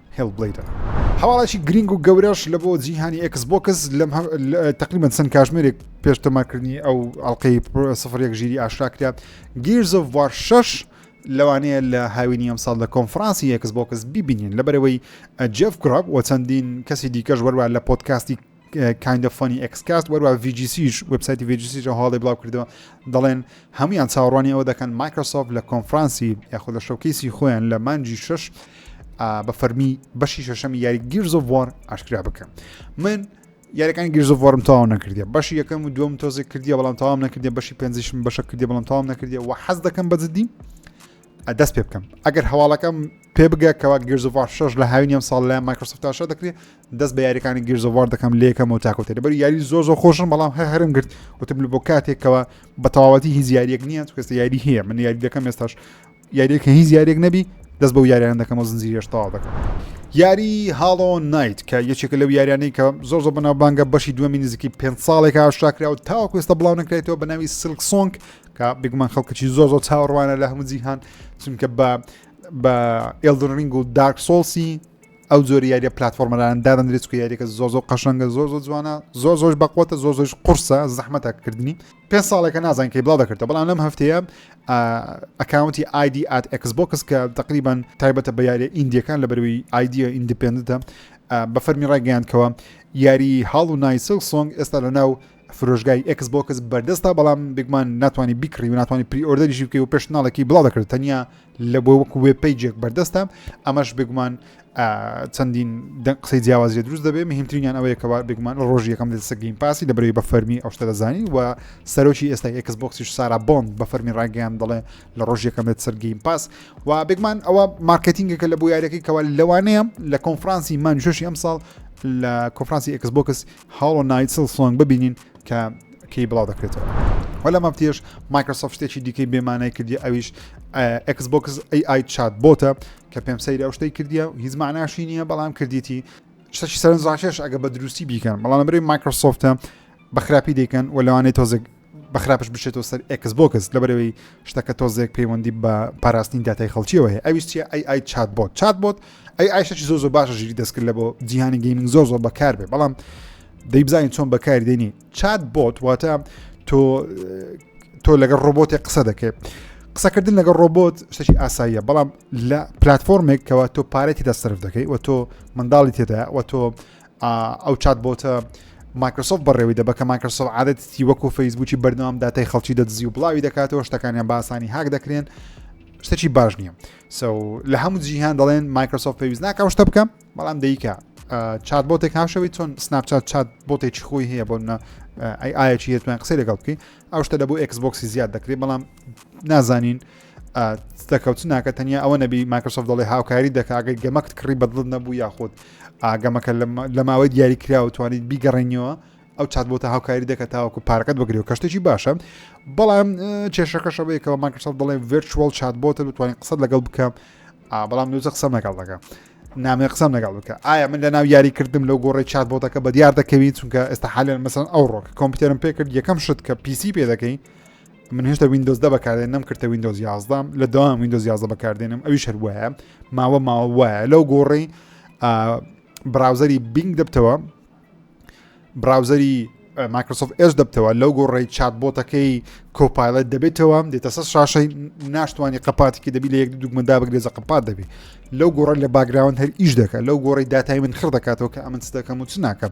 هێڵبلەیدە هەواڵێکی گرینگ و گەورەش لە بۆ جیهانی ئێکس بۆکس لەم تقریبا چەند کاژمێرێک پێش تەماکردنی ئەو ئەڵلقەی سفر یەک ژیری ئاشراکرا گیرزۆڤ وار 6 لەوانەیە لە هاوینی ئەم ساڵ لە کۆنفرانسی یەکس بۆکس ببینین لە بەرەوەی جف گراب و چەندین کەسی دیکەش وەروە لە پۆتکاستی کایندە فۆنی ئەکسکاست وەروە VGCیش وبسایتی VGCیش ئەو هاڵی بڵاو کردەوە دەڵێن هەمویان چاوەڕوانی ئەوە دەکەن مایکرۆسۆف لە کۆنفرانسی یاخود لە شەکەیسی خۆیان لە مانجی شش بە فەرمی بەشی شەشەمی یاری گیرزۆڤۆر ئاشکرا بکەم من یارەکانی گیرزۆڤۆرم تاو نەکردی بەشی یەکەم و دوم تۆزێک کردی بەڵام تاوام نەکردی بەشی پێنجشم بەشە کردی بەڵام تاوام نەکردی و حەز دەکەم بەجددی دەست پێ بکەم ئەگەر هەواڵەکەم پێ بگە کەوا گرزوڤار شش لە هاوین ئەم ساڵ لە مایکرۆسفتاشە دەکرێت دەست بە یاریەکانی گرزوڤار دەکەم لێکەم و تاکوتە لەبەر یاری زۆر زۆر خۆشم بەڵام هە هەرم گرت وتم لە بۆ کاتێکەوە بە تەواوەتی هیچ یاریەک نییە کەس یاری هەیە من یاری دەکەم ئێستاش یاریەکە هیچ یاریەک نەبی دەست بە یاریان دەکەم و زنجیرێش تەواو دەکەم یاری هاڵۆ نایت کە یەکێکە لەو یاریانەی کە زۆر زۆر بەناوبانگە بەشی دووەمی نزیکی پێ ساڵێکە شاکرا و تاوەکوێستە بڵاو نکرێتەوە بە ناوی سلکسۆنگ کە بێگومان خەڵکەکی زۆر زۆر چاوەڕوانە لە هەموو جیهان چونکە بە بە ئێلدن رنگ و دارک سۆڵسی ئەو جۆری یاریە پلتفۆرمەران دادەندرێت کە یاریەکە زۆر زۆر قەشەنگە زۆر زۆر جوانە زۆر زۆر بەقوتە زۆر زۆر قرسە زەحمەتە کردنی پێ ساڵێکە نازان کەی بڵاو دەکردە بەڵام لەم هەفتەیە ئەکاونتی آیدی ئات ئەکسبکس کە تقریبان تایبەتە بە یاریە ئیندیەکان لە بەروی ئایدە ئیندپندە بە فەرمی ڕایگەیاندکەوە یاری هاڵ و نایسل سۆنگ ئێستا لە ناو فرۆشگای ئێکس بۆکس بەردەستە بەڵام بگمان ناتوانانی بیکڕی و ناتوانانی پری ئۆردەریشی بکەی و پێشناڵێکی بڵاو دەکرد تەنیا لە بۆ وەکو وێ پیجێک بەردەستە ئەمەش بگمان چەندین قسەی جیاوازی دروست دەبێت مهمترینیان ئەوەیە کەوا بگمان ڕۆژی یەکەم دەسە گەیم پاسی لە بەرەوەی بە فەرمی ئەو شتە دەزانی و سەرۆکی ئێستا ئەکس بۆکسیش سارا بۆن بە فەرمی ڕاگەیان دەڵێ لە ڕۆژ یەکەم دێت سەر گەیم پاس و بگمان ئەوە مارکتینگەکە لە بۆ یارەکەی کەوا لەوانەیە لە کۆنفرانسی مانشی ئەم ساڵ لە کۆفرانسی ئەکس بۆکس هاڵۆ نایت سڵسۆنگ ببینین کە کەی بڵاو دەکرێتەوە و لە مەبتیش مایکرۆسۆفت شتێکی دیکەی بێمانای کردی ئەویش ئەکس بۆکس ئەی ئای چات بۆتە کە پێم سەیری ئەو شتەی کردیە و هیچ معناشی نییە بەڵام کردیتی شتەکی سەرنجڕاکێش ئەگە بە دروستی بیکەن بەڵام برێ مایکرۆسۆفتە بە خراپی دەیکەن و لەوانەیە تۆزێک بە خراپش بچێتەوە سەر ئێکس بۆکس لەبەرەوەی شتەکە تۆزێک پەیوەندی بە پاراستنی داتای خەڵکیەوە هەیە ئەویش چیە ئەی ئای چات بۆت چات بۆت ئەی ئایشەی زۆ زۆ باشە ژیری دەستکرد لە بۆ جیهانی گەیمنگ زۆ زۆ بەکار بێ بەڵام دەیبزانین چۆن بەکاری دێنی چات بۆت واتە تۆ تۆ لەگەڵ ڕۆبۆتی قسە دەکەێت قسەکردن لەگەڵ ڕۆبۆت شتێکی ئاساییە بەڵام لە پلتفۆرمێک کەەوە تۆ پارێتی دەسرف دەکەی و تۆ منداڵی تێدا و تۆ ئەو چات بۆتە مایکرۆسۆف بەڕێوی دەبە کە مایکرۆسۆف عادەتی وەکو فەیسبووکی بەردەوام داتای خەڵکی دەدزی و بڵاوی دەکاتەوە شتەکانیان باسانی هاک دەکرێن شتەکی باش نییە سو لە هەموو جیهان دەڵێن مایکرۆسۆف پێویست ناکەم شتە بکەم بەڵام دیکە چات بۆتێک هاوشەوی چۆن سناپچات چات بۆتێکی خۆی هەیە بۆ منە ئەی ئاەکی هێتوان قسەی لەگەڵ بکەین ئەو شتە لە بۆ ئەکسبکسی زیاد دەکرێت بەڵام نازانین دەکەوت ناکە تەنیا ئەوە نەبی ماکرسۆف دەڵێ هاوکاری دەکگەر گەمەکت کڕی بەدڵت نەبوو یاخود ئاگەمەکە لە ماوەی دیاری کرا و توانیت بیگەڕێنیەوە ئەو چات بۆتە هاوکاری دەکە تاوەکو پارەکەت بگری و کەشتێکی باشە بەڵام کێشەکەشەوەیەکەوە ماکرسۆف دەڵێ ڤرچوەڵ چات بۆتە بتوانین قسە لەگەڵ بکەم بەڵام نوزە قسەم لەگەڵ دەکە نامێ قسەم لەگەڵ بکە ئایا من لە ناو یاری کردم لەو گۆڕی چات بۆتەکە بە دیار دەکەوین چونکە ئێستا حالێن مەسن ئەو ڕۆک کۆمپیوتەرم پێ کرد یەکەم شت کە پیسی پێ دەکەین من هێشتا وینندۆز دە بەکاردێن نم کردە وینندۆز یازدام لە داوام وینندۆز یازدە بەکاردێنم ئەوی شەر وایە ماوە ماوە وایە لەو گۆڕی براوزەری بینگ دەبتەوە براوزەری مایکرۆسۆف ئێش دەبتەوە لەو گۆڕی چات بۆتەکەی کۆپایلەت دەبێتەوە دێتە سەر شاشەی ناشتوانانی قپاتێکی دەبی لە یەک دوگمەدا بگرێزە قپات دەبی لەو گۆڕە لە باگراوند هەر ئیش دەکە لەو گۆڕی داتای من خڕ دەکاتەوە کە ئەمن دەکەم و چ ناکەم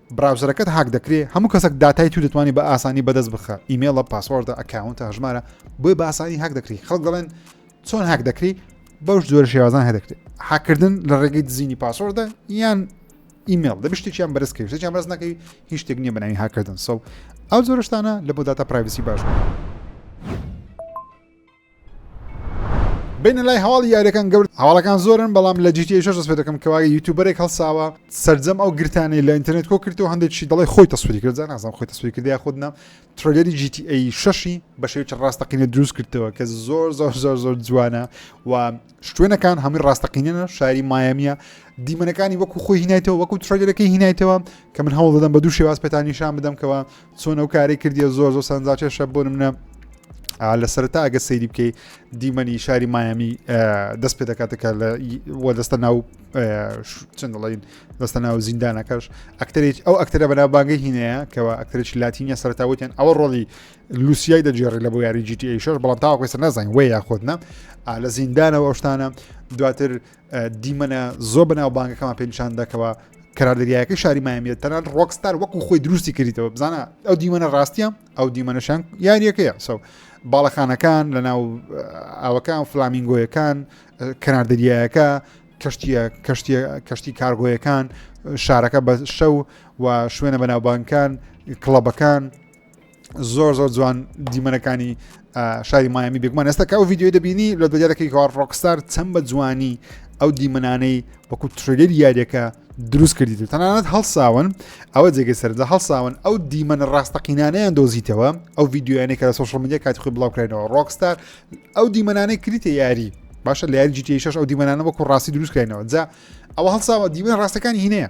براوزەرەکەت هاک دەکرێ هەموو کەسەک داتای تو دەتوانی بە ئاسانی بەدەست بخە ئیمێڵە پاسۆردە ئەکاونتە هەژمارە بۆی بە ئاسانی هاک دەکری خەڵک دەڵێن چۆن هاک دەکری بەوش جۆرە شێوازان هەدەکرێت حاکردن لە ڕێگەی دزینی پاسۆردە یان ئیمێڵ دەبی شتێکیان بەرز کەوی شتێکیان بەرز نەکەی هیچ شتێک نییە بەناوی هاکردن سەو ئەو زۆرشتانە لە بۆ داتا پرایڤسی باش بوو. بینە لای هەواڵی یاریەکان گەورد هەواڵەکان زۆرن بەڵام لە جیتی شش دەست پێ دەکەم کەوا یوتوبەرێک هەڵساوە سرجەم ئەو گرتانی لە ئینتەرنێت کۆ کردو هەندێکی دەڵی خۆی تەسوری کرد نازم خۆی تەسوری کردی خودنا ترۆلێری جیتی ئەی شەشی بەشێوی چ ڕاستەقینە دروست کردەوە کە زۆر زۆر زۆر زۆر جوانە و شوێنەکان هەمووی ڕاستەقینەنە شاری مایەمیە دیمەنەکانی وەکو خۆی هینایتەوە وەکو ترۆلەکەی هینایتەوە کە من هەوڵ دەدەم بە دوو شێواز پێتانیشان بدەمکەوە چۆن ئەو کاری کردیە زۆر زۆر سەنجاکێشە بۆ منە لە سەرتا ئەگە سەیری بکەیت دیمەنی شاری مایامی دەست پێ دەکاتەکە لە وە دەستە ناو چەند دەڵین دەستە ناو زیندانەکەش ئەکتەرێک ئەو ئەکتەرە بەناوبانگە هینەیە کەەوە ئەکتەرێکی لاتینە سەرتاوتیان ئەوە ڕۆڵی لوسیای دەجێڕی لە بۆ یاری جیTH بەڵام تاوەکەسە نازانین وێ یاخۆتنە لە زیندانەوە ئەوشتانە دواتر دیمەنە زۆر بەناوبانگەکەمان پێ نیشان دەکەوە کەرار دەریایەکە شاری مایمیێت تەنان ڕۆکستار وەکو خۆی دروستی کردیتەوە بزانە ئەو دیمەە ڕاستە ئەو دیمەنەشان یاریەکەیە سەو باڵەخانەکان لە ناو ئاوەکان فلامینگۆیەکان کەنار دەریایەکە کەشتیە کەشتە کەشتی کارگۆیەکان شارەکە بە شەو و شوێنە بەناوبانکان کڵەبەکان زۆر زۆر جوان دیمەنەکانی شاری مایامی بێگومان ئێستا کە ئەو یددیوی دەبینی لە دەجارەکەی کار ڕۆکستار چەند بە جوانی ئەو دیمەنانەی وەکو ترلێری یاریەکە دروست کردیت و تەنانەت هەڵساون ئەوە جێگە سەردا هەڵساون ئەو دیمەنە ڕاستەقینانیان دۆزیتەوە ئەو یددیویانەی کە لە سوشل میدیا کاتی خۆی بڵاوکرێنەوە ڕۆکستار ئەو دیمەنانەی کریتە یاری باشە لە یاری جیتیشش ئەو دیمەنانە وەکو ڕاستی دروستکرێنەوە جا ئەوە هەڵساوە دیمە ڕاستەکانی هینەیە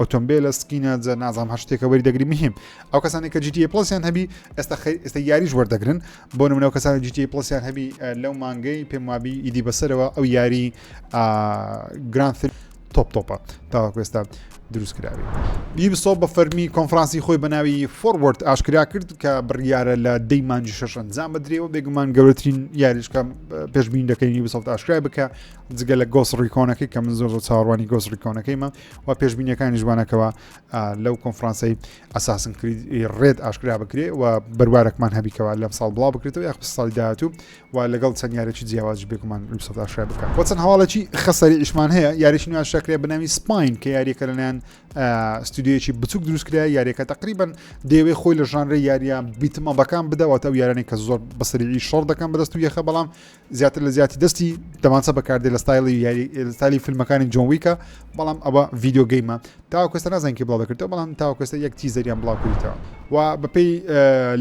ئۆتۆمبێلە سکینە جە نازام هەر شتێکە وەری دەگری مهم ئەو کەسانی کە جیتی پلسیان هەبی ئێستا ئێستا یاریش وەردەگرن بۆ نمونە ئەو کەسانی جیتی پلسیان هەبی لەو مانگەی پێم وابی ئیدی بەسەرەوە ئەو یاری گرانفیل تۆپ تۆپە تاواکوێستا دروست کراوی یوبسۆ بە فەرمی کۆنفرانسی خۆی بەناوی فۆروەرد ئاشکرا کرد کە بڕیارە لە دەی مانجی شەش ئەنجام بدرێەوە بێگومان گەورەترین یاریشکە پێشبین دەکەین یوبسۆفت ئاشکرای بکە جگە لە گۆس ڕیکۆنەکەی کە من زۆر زۆر چاڕوانی گۆس ڕیکۆنەکەیمە و پێشبینیەکانی ژوانەکەەوە لەو کۆنفرانسی ئەساسن کرید ڕێت ئاشکرا بکرێ و بەروارەکمان هەبیکەوە لەم ساڵ بڵاو بکرێتەوە یاخ ساڵی داهاتوو و لەگەڵ چەند یارێکی جیاواز بێکمان سەداشای بکە بۆ چەند هەواڵێکی خەسەری ئیشمان هەیە یاریش نوێ شکرێ بناوی سپین کە یاریەکە لەلایەن ستودیویەکی بچوک دروستکرا یاریەکە تقریبان دەیەوەی خۆی لە ژانرە یاریان بیتمە بەکان بدەوە تا و یارانی کە زۆر بەسەری شەڕ دەکەم بەدەست و یەخە بەڵام زیاتر لە زیاتی دەستی دەمانچە بەکاردێ لە ستایلی یاریستالی فیلمەکانی جۆن ویکە بەڵام ئەوە ڤیددیو گەیمە تاوکەستە نازانکی بڵاو دەکردەوە بەڵام تاوکەستە یەک تیزەریان بڵاو کردیتەوە و بەپی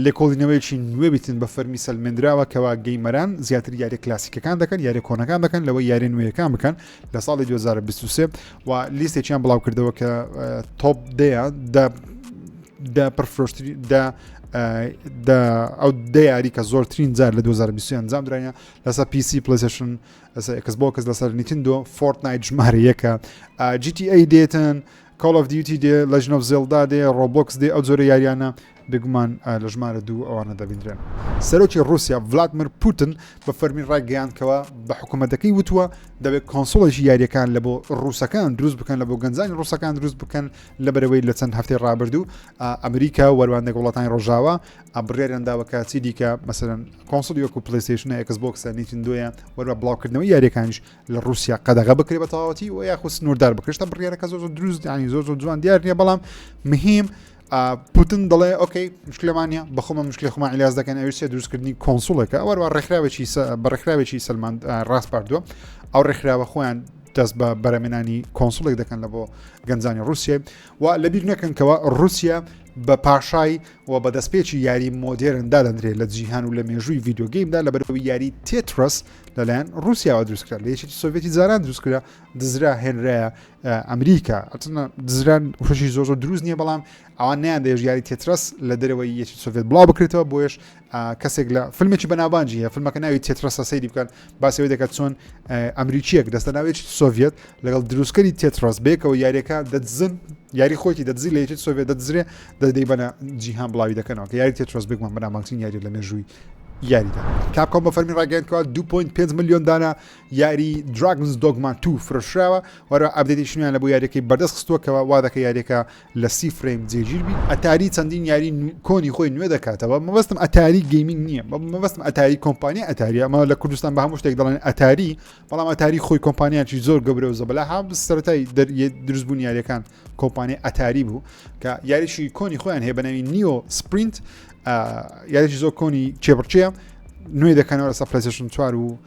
لێکۆڵینەوەیکی نوێ بتن بە فەرمی سەلمێنراوە کەوا گەیمەران زیاتر یاری کلاسیکەکان دەکەن یاری کۆنەکان دەکەن لەوە یاری نوێیەکان بکەن لە ساڵی 2023 و لیستێکیان بڵاو کردەوە کە تۆپ دەیە دە پرفرۆشتری دە ئەو دە یاری کە زۆرترین جار لە 2020 ئەنجام درایە لەسە پیسی پلیسشن ئەسەکەس بۆ کەس لەسەر نیتندۆ فۆرت نایت ژمارە یەکە جیتی ئەی دێتن کاڵ of دیوتی دێ لەژنۆف زێلدا دێ ڕۆبۆکس دێ ئەو جۆرە یاریانە بێگومان لە ژمارە دوو ئەوانە دەبیندرێن. سەرۆکی ڕووسیا ڤلادمر پوتن بە فەرمی ڕایگەیاند کەوا بە حکومەتەکەی وتووە دەبێت کۆنسوڵێکی یارییەکان لە بۆ ڕووسەکان دروست بکەن لە بۆ گەنجانی ڕووسەکان دروست بکەن لە بەرەوەی لە چەند هەفتەی ڕابردوو ئەمریکا وەروانێک وڵاتانی ڕۆژاوە ئەبڕێران داوەکە چی دیکە مەسەرەن کۆنسڵی وەکو پلیسیشنە ئەکسبۆکسە نیتندۆیە وەروە بڵاوکردنەوە یاریەکانش لە ڕووسیا قەدەغە بکرێت بە تەواوەتی و یاخود سنووردار بکرێتە بڕیارەکە زۆ دروست دانی زۆ زۆ جوان دیار نیە بەڵام مهم پوتن دەڵێ ئۆکەی مشکلمانە بەخۆمە مشکلی خۆمان علاز دەکەن ئەوی سێ دروستکردنی کۆنسولەکە ئەوەروە ڕێکخراوێکی بە ڕێکخراوێکی سلمان ڕاستپاردووە ئەو ڕێکخراوە خۆیان دەست بە بەرەمێنانی کۆنسولێک دەکەن لە بۆ گەنجانی رووسێ و لە بیر نەکەنکەوە رووسیا بە پاشای و بە دەستپێکی یاری مۆدێرن دادەندرێت لە جیهان و لە مێژووی یددیوگەیمدا لە بەرەوەی یاری تێترس لەلایەن رووسیاوە دروستکرا لە یەکی سۆڤێتی جاران دروستکرا دزرا هێنرایە ئەمریکا ئەتنە دزران خوشی زۆر زۆر دروست نییە بەڵام ئەوان نیان دەێژ یاری تێترەس لە دەرەوەی یەکی سوڤێت بڵاو بکرێتەوە بۆیش کەسێک لە فیلمێکی بەناوانجی هەیە فیلمەکە ناوی تێترەسە سەیری بکەن باسەوەی دەکات چۆن ئەمریکیەک دەستە ناوێکی سۆڤێت لەگەڵ دروستکەری تێترەس بێکەوە یاریەکە دەدزن یاری خۆکی دەدزی لە یەکی سۆڤێت دەدزرێ دەدەی بەە جیهان بڵاوی دەکەنەوە کە یاری تێترەس بێکمان بەنامانچین یاری لە مێژووی یاریدا کاپکۆم بە فەرمی ڕاگەندکەوە 2.5 میلیۆن دانا یاری دراگنز دۆگما تو فرۆشراوە وەرە ئابدێتیش نوێن لە بۆ یاریەکەی بەردەست خستووەکەەوە وا دەکە یاریەکە لە سی فرەیم جێگیر بی ئەتاری چەندین یاری کۆنی خۆی نوێ دەکاتەوە مەبستم ئەتاری گەیمنگ نییە مەبستم ئەتاری کۆمپانیا ئەتاری ئەمە لە کوردستان بە هەموو شتێک دەڵێن ئەتاری بەڵام ئەتاری خۆی کۆمپانیاکی زۆر گەورە و زەبلا ها سەرای دروستبوون یاریەکان کۆمپانیا ئەتاری بوو کە یاریشی کۆنی خۆیان هەیە بەناوی نیۆ سپرینت یاریشی زۆر کۆنی چێبڕچەیە نوێ دەکەنەوە لەسە پلسشن چوار و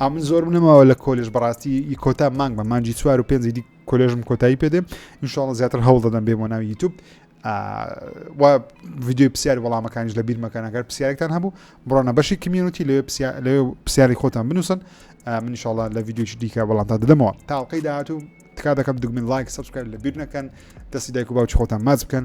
ئا من زۆرم نەماوە لە کۆلێژ بەڕاستی ی کۆتا مانگ بە مانجی چوار و پێنجی دی کۆلێژم کۆتایی پێدێ انشاءڵە زیاتر هەوڵ دەدەم بێ بۆ ناوی یوتوب و ویددیوی پرسیار وەڵامەکانیش لە بیرمەکانەکەر پرسیارێکتان هەبوو بڕۆنە بەشی کمیونەتی لەوێ لە پرسیاری خۆتان بنووسن منیشاڵە لە ویددیوش دیکە بەڵامتا دەدەمەوە تاڵقەی داهاتوو تکا دەکەم دگمن لایک سبسکرایب لە بیر نەکەن دەستی دایک و باوچ خۆتان ماچ بکەن